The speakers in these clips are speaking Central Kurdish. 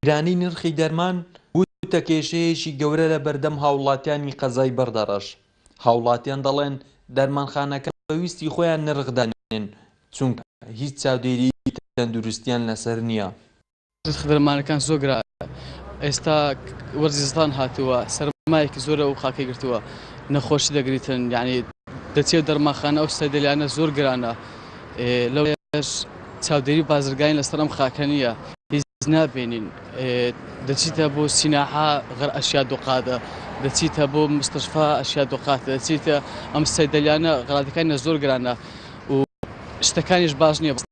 گرانی نرخی دەرمان بووتە کێشەیەکی گەورە لە بەردەم هاوڵاتیانی قەزای بەردەڕەش، هاوڵاتیان دەڵێن دەرمانخانەکان بە ویستی خۆیان نرخ دانێن چونکە هیچ چاودێریی تەندروستیان لەسەر نییە. خدرمانەکان زۆر گرانە ئێستا وەرزی زستان هاتووە سەرمایەکی زۆرە و خاکی گرتووە نەخۆشی دەگریتن یعنی دەچێ دەرماخانە ئەو سەدلیانە زۆر گرانە لەو چاودێری بازرگانی لەسەر ئەم خاکە نییە هیچ نابێنین دەچیتە بۆ سیناحا غەر ئەشیا دوقادە دەچیتە بۆ مستشفا ئەشیا دوقات دەچیتە ئەم سەدلیانە غڵاتەکانە زۆر گرانە و شتەکانیش باش نییە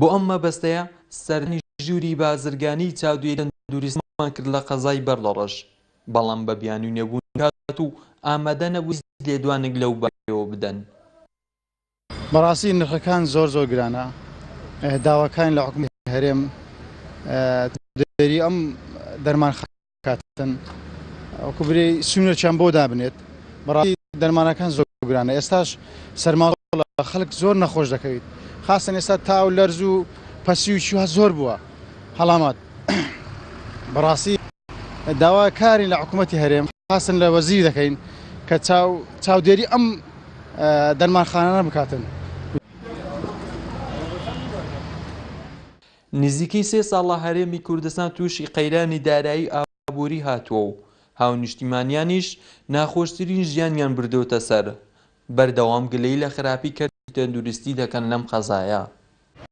بۆ ئەم مەبەستەیە سەردانی ژووری بازرگانیی چاودێری تەندروستیمان کرد لە قەزای بەرلەڕەش، بەڵام بە بیانووی نەبوونی کات و ئامادە نەبوون هیچ لێدوانێک لەو بارەیەوە بدەن. بەڕاستی نرخەکان زۆر زۆر گرانە، داواکارین لە حکومەتی هەرێم چاودێری ئەم دەرمانخانانە بکەن. کاتن وەکو برێ سونەچیان بۆ دابنێت بەڕاستی دەرمانەکان زۆر گرانە ئێستاش سەرماڵ خەڵک زۆر نەخۆش دەکەویت خاستن ئێستا تاو لەرز و پەسی و چوە زۆر بووە هەڵامات بەڕاستی داوا کاری لە حکوومەتتی هەرێم خاستن لە وەزیر دەکەین کە چاو چاودێری ئەم دەرمانخانانە بکاتن نزیکەی سێ ساڵە هەرێمی کوردستان تووشی قەیرانی دارایی و ئابووری هاتووە و هاونیشتیمانیانیش ناخۆشترین ژیانیان بردۆتە سەر، بەردەوام گلەی لە خراپی کەرتی تەندروستی دەکەن لەم قەزایە.